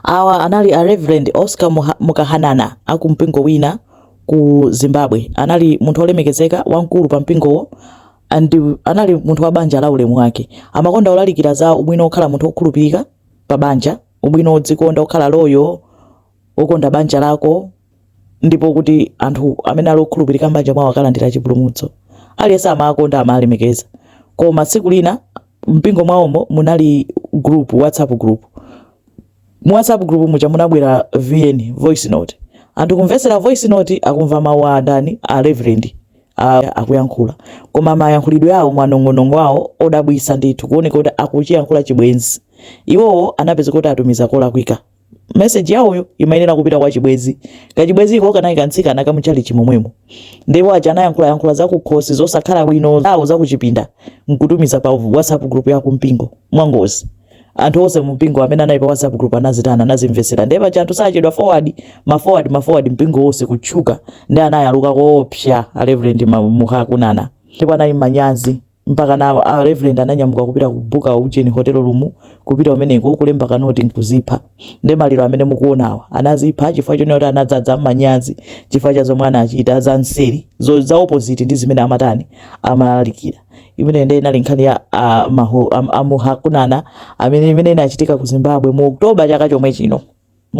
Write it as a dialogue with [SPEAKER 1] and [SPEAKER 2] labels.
[SPEAKER 1] Awa anali a Reverend Oscar Mukahanana a ku mpingo wina ku Zimbabwe. Anali munthu olemekezeka wamkulu pa mpingowo and anali munthu wa banja la ulemu wake. Amakonda kulalikira za ubwino okhala munthu okhulupirika pa banja, ubwino odzikonda, okhala loyal, okonda banja lako, ndipo kuti anthu amene ali okhulupirika m'banja mwawo akalandira chipulumutso. Aliyense amawakonda, amawalemekeza. Koma tsiku lina mumpingo mwawomo munali group, WhatsApp group. Mu WhatsApp group muja munabwera VN, voice note. Anthu kumvetsera voice note akumva mawu a ndani a reverend akuyankhula koma mayankhulidwe awo mwanong'onong'o awo odabwisa ndithu kuoneka kuti akuchiyankhula chibwenzi iwowo anapeza kuti atumiza kolakwika message yawoyo imayenera kupita kwa chibwenzi kachibwenziko kanali kamtsikana ka mu tchalitchi momwemo ndipo aja anayankhulayankhula zakukhosi zosakhala bwino zawo zakuchipinda nkutumiza pa whatsapp group ya kumpingo mwangozi anthu onse mumpingo amene anali pa whatsapp group anazitana anazimvetsera ndiye paja anthu sachedwa forward ma forward ma forward mpingo wonse kutchuka nde anayaluka koopsa a reverend Ma- muhakunana ndipo anali manyazi Mpakana a Reverend ananyamuka kupita kubuka ujeni hotel room, kupita kumeneko kulemba ka note n'kudzipha. Nde maliro amene mukuonawa, anadzipha chifukwa chonena kuti anadzadza manyazi chifukwa cha zomwe anachita za mseri, zo, za opposite ndi zimene amatani, amalalikira. Imeneyo nde inali nkhani ya a Maho, a, a Muhakunana amene imene inachitika ku Zimbabwe mu October chaka chomwe chino.